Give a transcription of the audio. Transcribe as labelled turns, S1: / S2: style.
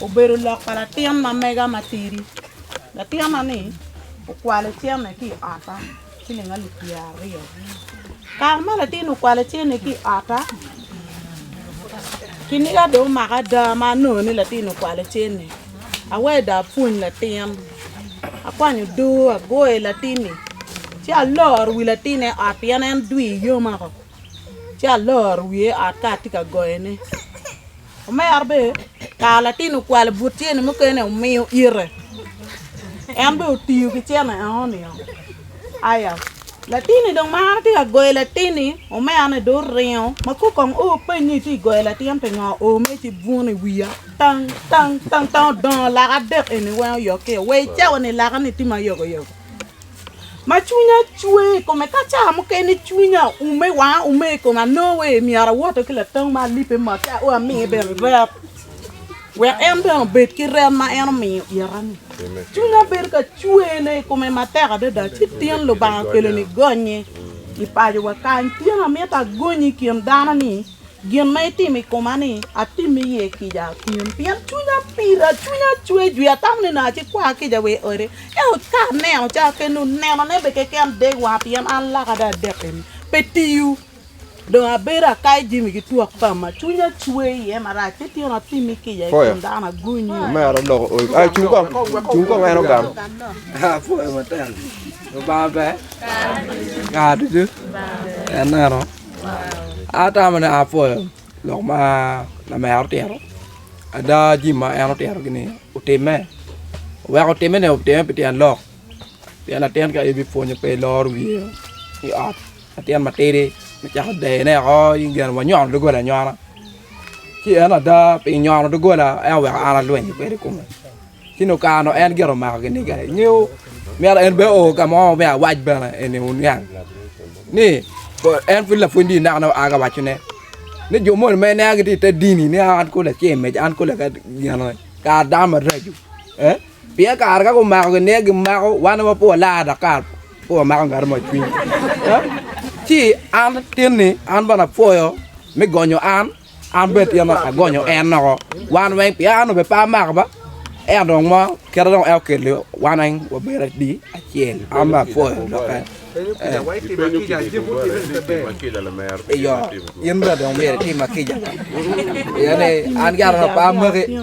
S1: obedo lok pa latin ma mega matidi. Latinna-ni okwalo cene ki i otta ciling alip pyeraryo. Kare ma latin-ni okwalo cene ki i otta, kiniga dong omaka ada ma anongo ni latin-ni okwalo cene. Aweyo dong apwony latin, akwanyo odoo agoyo i latin-ni ci aloro wi latin-ni i ot pien en dwi yoma woko ci aloro wiye i ot ka atye ka goyone. Omera bene, ka latin okwalo but cene mukene omiyo ite, en bene otiyo ki cene enoni-o. Aya, latin-ni dong marre tye ka goyo latin-ni omera-ni dong oringo ma kong kong o openy ni itye ka goyo latin pingo o mere ci bwuno i wiya tang tang tang tang odongo laka adek eni weng oyokke-o. Wa icawa ni laka-ni tye ma yogo yogo. ma cwinya cwe i kome ka ca mukene cwinya oume wanga oume i kome anongo wai myero awoto ki latong ma alibbe mot ci ao amiye bene rep wek en bene obed ki rep ma en omiyo ita-ni cwinya bedo ka cwene i kome matek adada ci tyen Lubanga okelo-ni gonye i pacowa kany tyen amito agonyi i kin dano-ni Gin ma itimo i koma-ni, atim iye kica pien cwinya pira, cwinya cwer jwi, atamo ni nongo acikwar kica wa i odi. Ento ka aneno ca keni, nenone bene keken dek wanga pien an laka dong adek eni pe tiyo. Dong abedo akayo jami ki twak pama, cwinya cwer iye marac, ci tyena
S2: atimi kica i kom dano
S3: agunyi. Atamo ni apwoyo lok ma lamera otito, ada jami ma en otito ni otime, oweko otime ni otime pi tyen lok pien latin ka in ipwonyo pe iloro wiye i ot latin matidi me cako deyone woko in gin wanyono dogola anyona ci en ada pi nyono dogola en oweko an alwenyo kwede i kome. Ci nongo kare nongo en gire omako kiniga, ingeyo myero en bene o ka mo me awac bene eni oniang ni en pud lapwony dini naka naka aa wacone ni jo moni ma ineno gitye i te dini ni an kong laceng meca an kong laga gin eni kara dano maraco ee pien kare ka gumako kiniga gimako wan ma pud walar dok kara pud wamako ngati mo i cwiny ci an tin ni an bene apwoyo me gonyo an An bene tyen ma agonyo en noko wan weng pien an obe pe amako ba ento dong mo kite dong en okelo wan weng wabedo adi acel an bene apwoyo doki iyo in bene dong myero itim ma kica pien ni an ki Aron pe amaki
S1: iyo.